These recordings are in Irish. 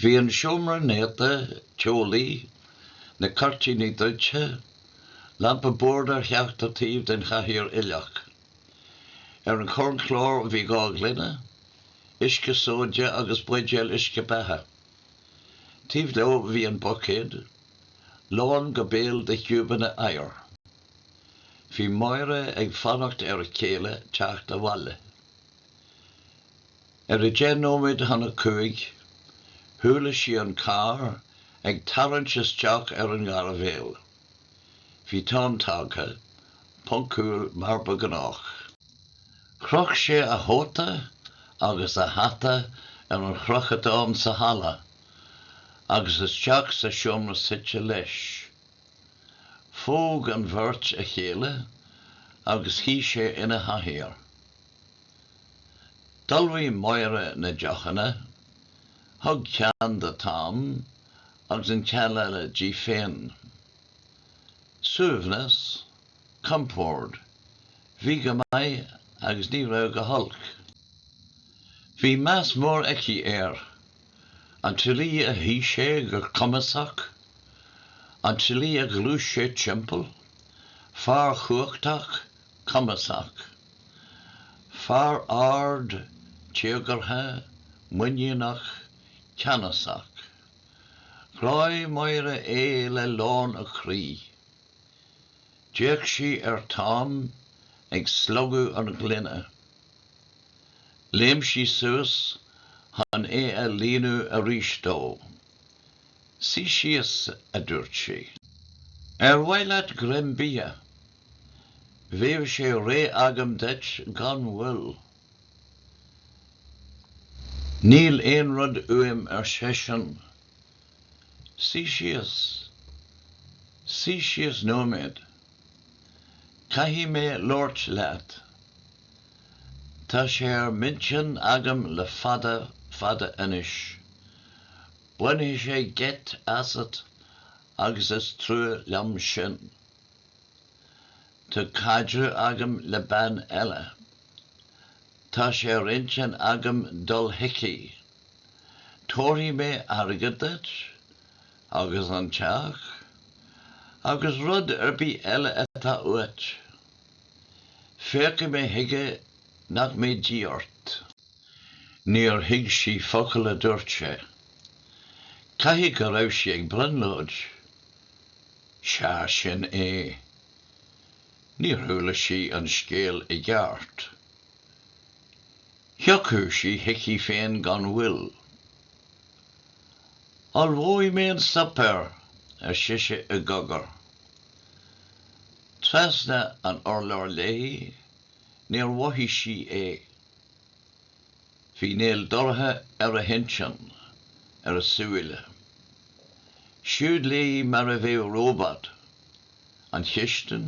Bhí an seomra néata, teolaí, na cuirtíní druidte, lampa boird ar cheachtar taobh den chathaoir uilleach. Ar an chornchlár bhí dhá ghloine, uisce sóide agus buidéal uisce beatha. Taobh leo bhí an buicéad, lán go béal de chiúbanna oighir. Bhí Máire ag fanacht ar a céile teacht abhaile. Ar a deich nóiméad chun a cúig, chuala sí an carr ag tarraingt isteach ar an ngairbhéal. Bhí Tom tagtha, poncúil mar ba ghnách. Chroch sé a chóta agus a hata ar an chrochadán sa halla agus isteach sa seomra suite leis. Phóg an bheirt a chéile agus shuigh sé ina chathaoir. D'ullmhaigh Máire na deochanna, thug ceann do Tom agus an ceann eile di féin. Suaimhneas, compord, bhí go maith agus ní raibh go holc. Bhí meas mór aici air, an tslí a shuigh sé go cumasach, an tslí a ghluais sé timpeall, fear chumhachtach, cumasach. Fear ard, téagartha, muiníneach, ceannasach. Ghráigh Máire é le lán a croí. D'fhéach sí ar Tom ag slogadh an ghloine. Léim sí suas chun é a líonadh arís dó. 'Suigh síos, a dúirt sí. 'Ar mhaith leat greim bia? Bheadh sé réidh agam duit gan mhoill. Níl aon rud uaim arsa seisean. Suigh síos. Suigh síos nóiméad. Caithfidh mé labhairt leat. Tá sé ar m'intinn agam le fada fada anois. Bainfidh sé geit asat agus is trua liom sin. Tá caidreamh agam le bean eile. Tá sé ar intinn agam dul chuici. Tabharfaidh mé airgead duit, agus an teach, agus rud ar bith eile atá uait. Féachfaidh mé chuige nach mbeidh díth ort. Níor thuig sí focal a dúirt sé. Caithfidh go raibh sí ag brionglóid. Sea, sin é. Níor chuala sí an scéal i gceart. Thiocfadh sí chuici féin gan mhoill. Ullmhóidh mé an suipéar, ar sise i gcogar. Trasna an urláir léi, níor mhothaigh sí é. Bhí néal dorcha ar a hintinn, ar a súile. Siúd léi mar a bheadh róbat. An chistin,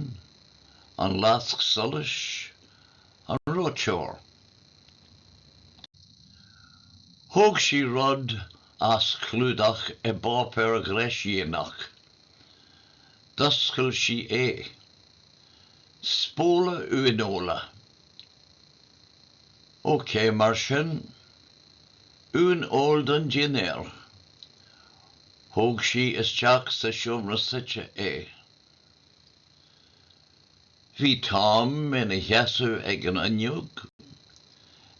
an lasc solais, an reoiteoir. Thóg sí rud as clúdaithe i bpáipéar gréiscdhíonach. D'oscail sí é. Spóla uaineola. OK, mar sin, uaineoil don dinnéar. Thóg sí isteach sa seomra suite é. Bhí Tom ina sheasamh ag an fhuinneog,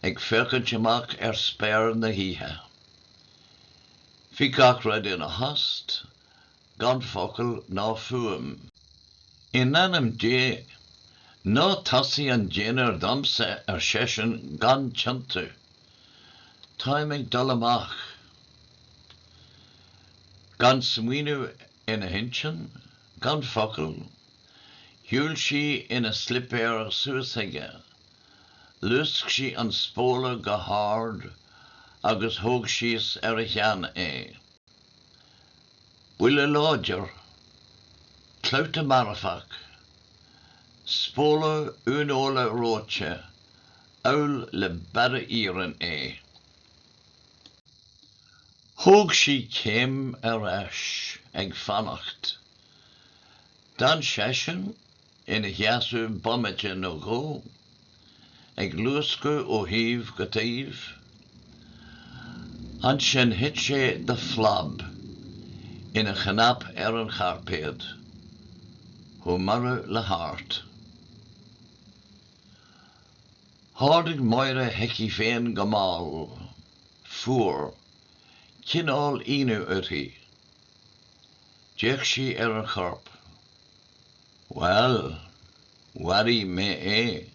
ag féachaint amach ar spéir na hoíche. Bhí gach rud ina thost gan focal ná fuaim. In ainm Dé, ná tosaigh an dinnéar dhomsa, ar seisean, gan tionntú. Táim ag dul amach. Gan smaoineamh ina hintinn, gan focal, shiúil sí ina slipéir suas chuige. Luasc sí an spóla go hard agus thug síos ar a cheann é. buille láidir, clabhta marfach, spóla uaineola reoite amhail le barra iarainn é. Thóg sí céim ar ais ag fanacht. D'fhan seisean ina sheasamh bomaite nó dhó, ag luascadh ó thaobh go taobh. Ansin thit sé de phlab ina chnap ar an chairpéad, chomh marbh le hart. Tháinig Máire chuici féin go mall, fuar, cineál ionadh uirthi. D'fhéach sí ar an chorp. Bhail, mharaigh mé é.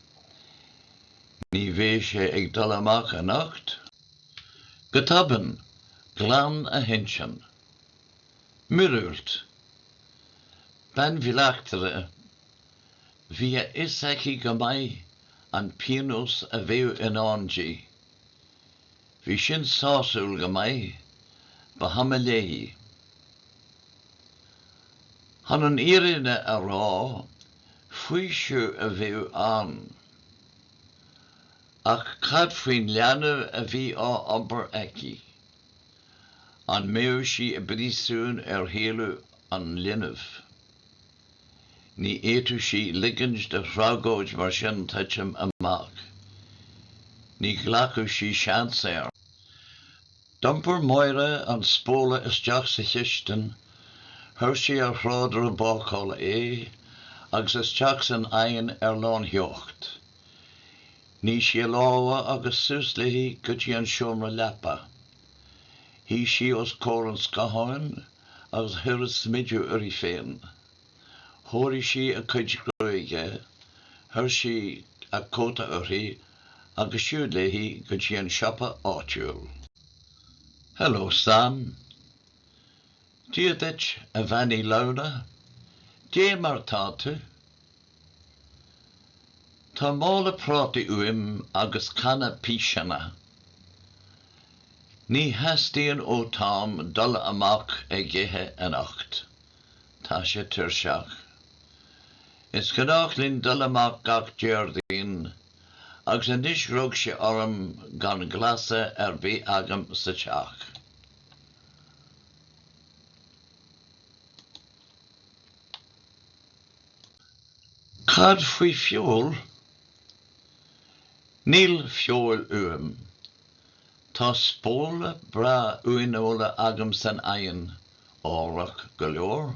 Ní bheidh sé ag dul amach anocht. Go tobann, ghlan a hintinn. Miorúilt! Bean bhleachtaire! Bhí a fhios aici go maith an pionós a bheadh i ndán di. Bhí sin sásúil go maith. Ba chuma léi. Chun an fhírinne a rá, faoiseamh a bheadh ann. Ach cad faoin leanbh a bhí á iompar aici? An mbeadh sí i bpríosún ar shaolú an linbh? Ní fhéadfadh sí ligint do thragóid mar sin titim amach. Ní ghlacfadh sí seans air. D'iompair Máire an spóla isteach sa chistin, chuir sí ar thrádaire bácála é agus isteach san oigheann ar lántheocht. Nigh sí a lámha agus suas léi go dtí an seomra leapa. Shuigh sí os comhair an scátháin. agus chuir a smideadh uirthi féin. Chóirigh sí a cuid gruaige, chuir sí a cóta uirthi agus siúd léi go dtí an siopa áitiúil. Hello, Sam. Dia duit, a Bhean Uí Lamhna. Dé mar atá tú? Tá mála prátaí uaim agus canna piseanna. Ní theastaíonn ó Tom dul amach ag ithe anocht. Tá sé tuirseach. Is gnách linn dul amach gach Déardaoin agus anois rug sé orm gan glasra ar bith agam sa teach. Cad faoi feoil? Níl feoil uaim. Tá spóla breá uaineola agam san oigheann, ámharach go leor.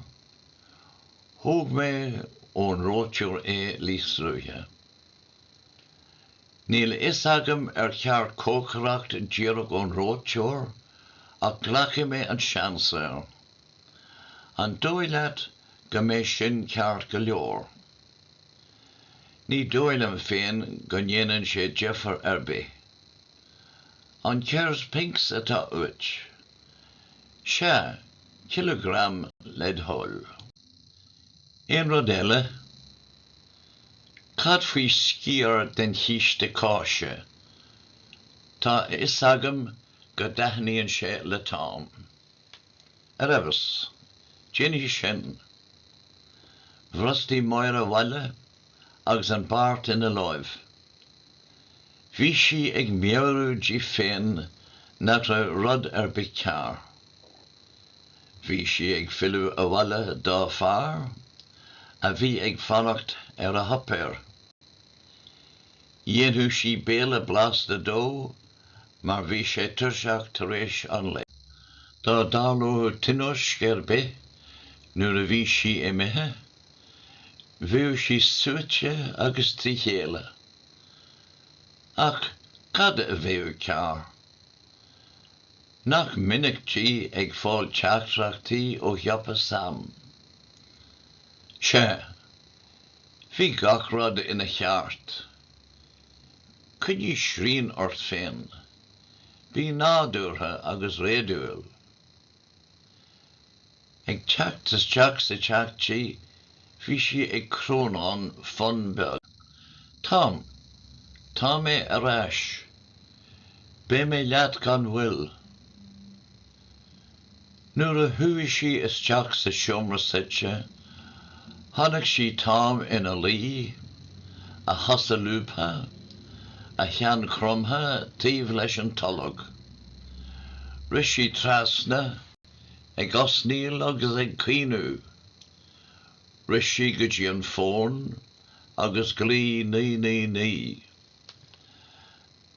Thóg mé ón reoiteoir é níos luaithe. Níl a fhios agam ar cheart cócaireacht díreach ón reoiteoir, ach glacfaidh mé an seans air. An dóigh leat go mbeidh sin ceart go leor? Ní dóigh liom féin go ndéanann sé difear ar bith. An Kerr's Pinks atá uait? Sea, cileagram led' thoil. Aon rud eile? Cad faoi sciar den chíste cáise? Tá a fhios agam go dtaitníonn sé le Tom. ar fheabhas. Déanfaidh sin. Bhrostaigh Máire abhaile agus an beart ina láimh. Bhí sí ag meabhrú di féin nach raibh rud ar bith cearr. Bhí sí ag filleadh abhaile dá fear, a bhí ag fanacht ar a shuipéar. Dhéanfadh sí béile blasta dó mar bhí sé tuirseach tar éis an lae. Dá dtarlódh tionóisc ar bith nuair a bhí sí imithe, bheadh sí suaite agus trí chéile. Ach cad a bheadh cearr? Nach minic di ag fáil teachtaireachtaí ó shiopa Sam? Sea, bhí gach rud ina cheart. Coinnigh srian ort féin. Bí nádúrtha agus réadúil. Ag teacht isteach sa teach di, bhí sí ag crónán fonn beag. Tom! Tá mé ar ais. Beidh mé leat gan mhoill. Nuair a chuaigh sí isteach sa seomra suite, chonaic sí Tom ina luí, a chosa lúbtha, a cheann cromtha taobh leis an tolg. Rith sí trasna, ag osnaíl agus ag caoineadh. Rith sí go dtí an fón agus ghlaoigh naoi naoi naoi.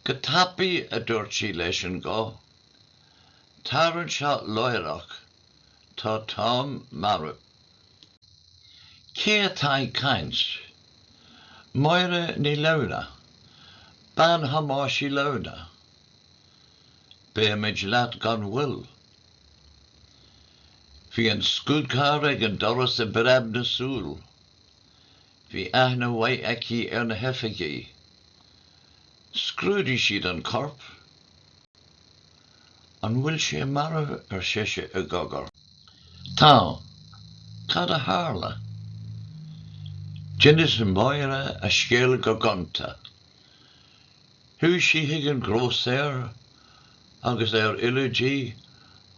Go tapaidh a dúirt sí leis an guth Tar anseo láithreach, tá Tom marbh. Cé atá ag caint? Máire Ní Lamhna, bean Thomáis Uí Lamhna. Beimid leat gan mhoill. Bhí an scúdcharr ag an doras i bpreab na súl. Bhí aithne mhaith aici ar na hoifigigh. Scrúdaigh siad an corp. An bhfuil sé marbh? ar sise i gcogar. Tá. Cad a tharla? D'inis Máire a scéal go gonta. Chuaigh sí chuig an ngrósaeir agus ar fhilleadh di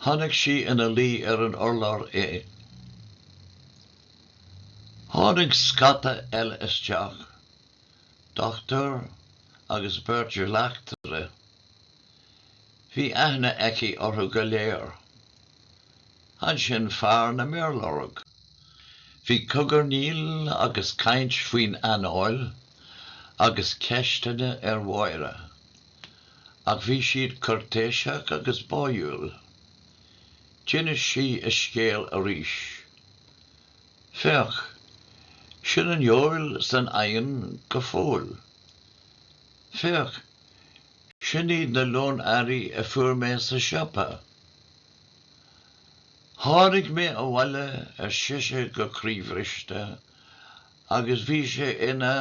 chonaic sí ina luí ar an urlár é. Tháinig scata eile isteach, dochtúir agus beirt bhleachtaire. Bhí aithne aici orthu go léir. Ansin fear na méarlorg. Bhí cogarnaíl agus caint faoin anáil agus ceisteanna ar Mháire. Ach bhí siad cuirtéiseach agus báúil. D'inis sí a scéal arís. Féach, sin an fheoil san oigheann go fóill. Féach, Sin iad na lón earraí a fuair mé sa siopa. Tháinig mé abhaile, ar sise go croíbhriste, agus bhí sé ina.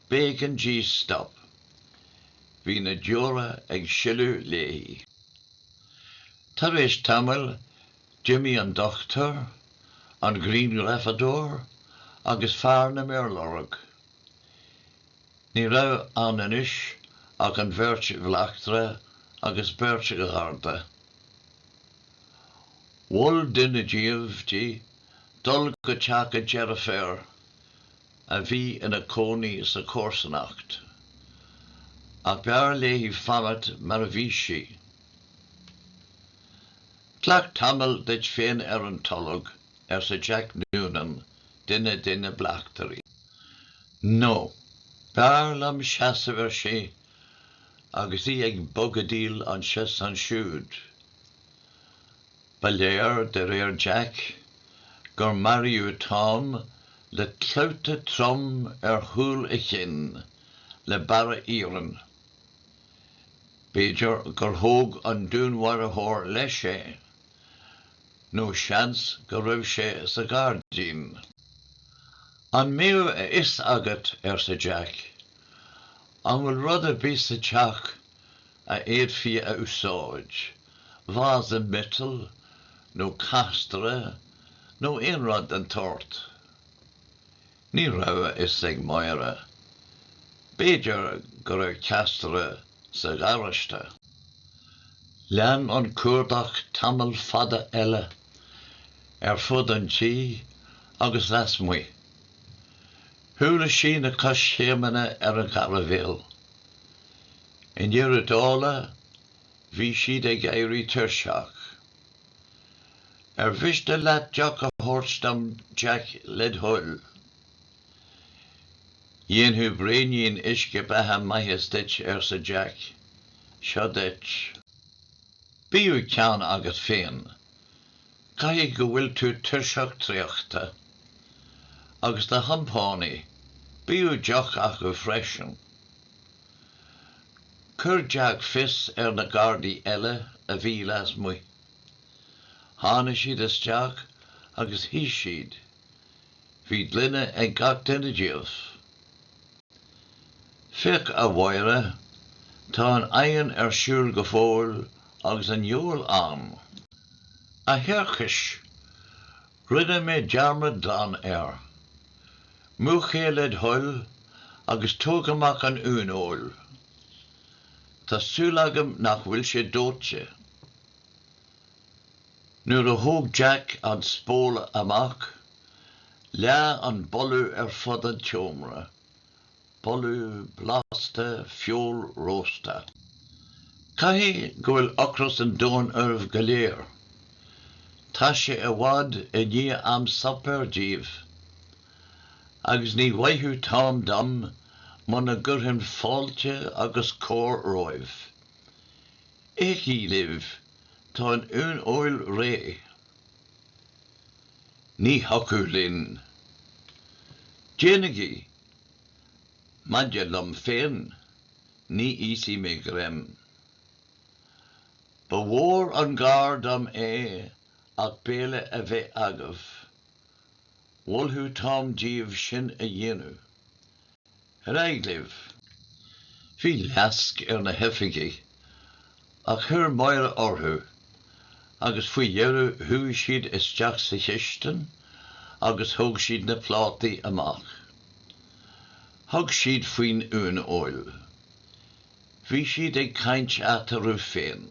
B'éigean di stop. Bhí na deora ag sileadh léi. Tar éis tamaill, d'imigh an dochtúir, an grianghrafadóir agus fear na méarlorg. Ní raibh ann anois ach an bheirt bhleachtaire agus beirt gharda. Mhol duine díobh di dul go teach a deirféar a bhí ina cónaí sa chomharsanacht, ach b'fhearr léi fanacht mar a bhí sí. Glac tamall duit féin ar an tolg, arsa Jack Noonan. duine de na bleachtairí. No, b'fhearr liom seasamh, ar sise, agus í ag bogadaíl anseo 's ansiúd. Ba léir, de réir Jack, gur maraíodh Tom le clabhta trom ar chúl a chinn le barra iarainn. B'fhéidir gur thóg an dúnmharaitheoir leis é. nó seans go raibh sé sa ghairdín. An mbeadh a fhios agat, arsa Jack, an bhfuil rud ar bith sa teach a fhéadfaí a úsáid, vása miotail nó castaire nó aon rud den tsórt? Ní raibh a fhios ag Máire. B'fhéidir go raibh castaire sa gharáiste. Lean an cuardach tamall fada eile, ar fud an tí agus lasmuigh. Chuala sí na coiscéimeanna ar an ghairbhéal. I ndeireadh na dála, bhí siad ag éirí tuirseach. Ar mhiste leat deoch a thabhairt dom, Jack, led thoil? Dhéanfadh braoinín uisce beatha maitheas duit, arsa Jack. Seo duit. Bíodh ceann agat féin. Caithfidh go bhfuil tú tuirseach traochta. Agus do chompánaigh, bíodh deoch acu freisin. Chuir Jack fios ar na gardaí eile a bhí lasmuigh. Tháinigh siad isteach agus shuidh siad. Bhí gloine ag gach duine díobh. Féach a Mháire, tá an oigheann ar siúl go fóill agus an fheoil ann. A thiarchais! Rinne mé dearmad glan air. Múch é le do thoil agus tóg amach an uaineoil. Tá súil agam nach bhfuil sé dóite. Nuair a thóg Jack an spól amach, leath an boladh ar fud an tseomra. boladh blasta feola rósta. Caithfidh go bhfuil ocras an domhain oraibh go léir. Tá sé i bhfad i ndiaidh am suipéir daoibh, agus ní mhaithfeadh Tom dom muna gcuirfinn fáilte agus cóir romhaibh. Ithigí libh, tá an uaineoil réidh. Ní thiocfadh linn. Déanaigí Maidir liom féin, ní íosfaidh mé greim. Ba mhór an gar dom é ach béile a bheith agaibh. Mholfadh Tom daoibh sin a dhéanamh. Ar aghaidh libh. Bhí leisce ar na hoifigigh Ach chuir Máire orthu, agus faoi dheireadh chuaigh siad isteach sa chistin agus thóg siad na plátaí amach. Thug siad faoin uaineoil. Bhí siad ag caint eatarthu féin.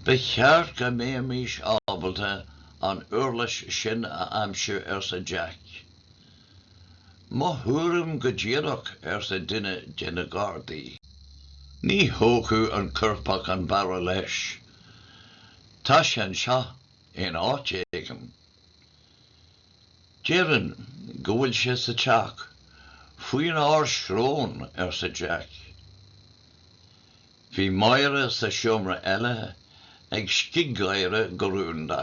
Ba cheart go mbeimis ábalta an uirlis sin a aimsiú, arsa Jack. Mo thuairim go díreach, arsa duine de na gardaí. Ní thógfadh an coirpeach an barra leis. Tá sé anseo in áit éigin. Déarfainn go bhfuil sé sa teach faoin ár srón, arsa Jack. Bhí Máire sa seomra eile ag scig-gháire go rúnda.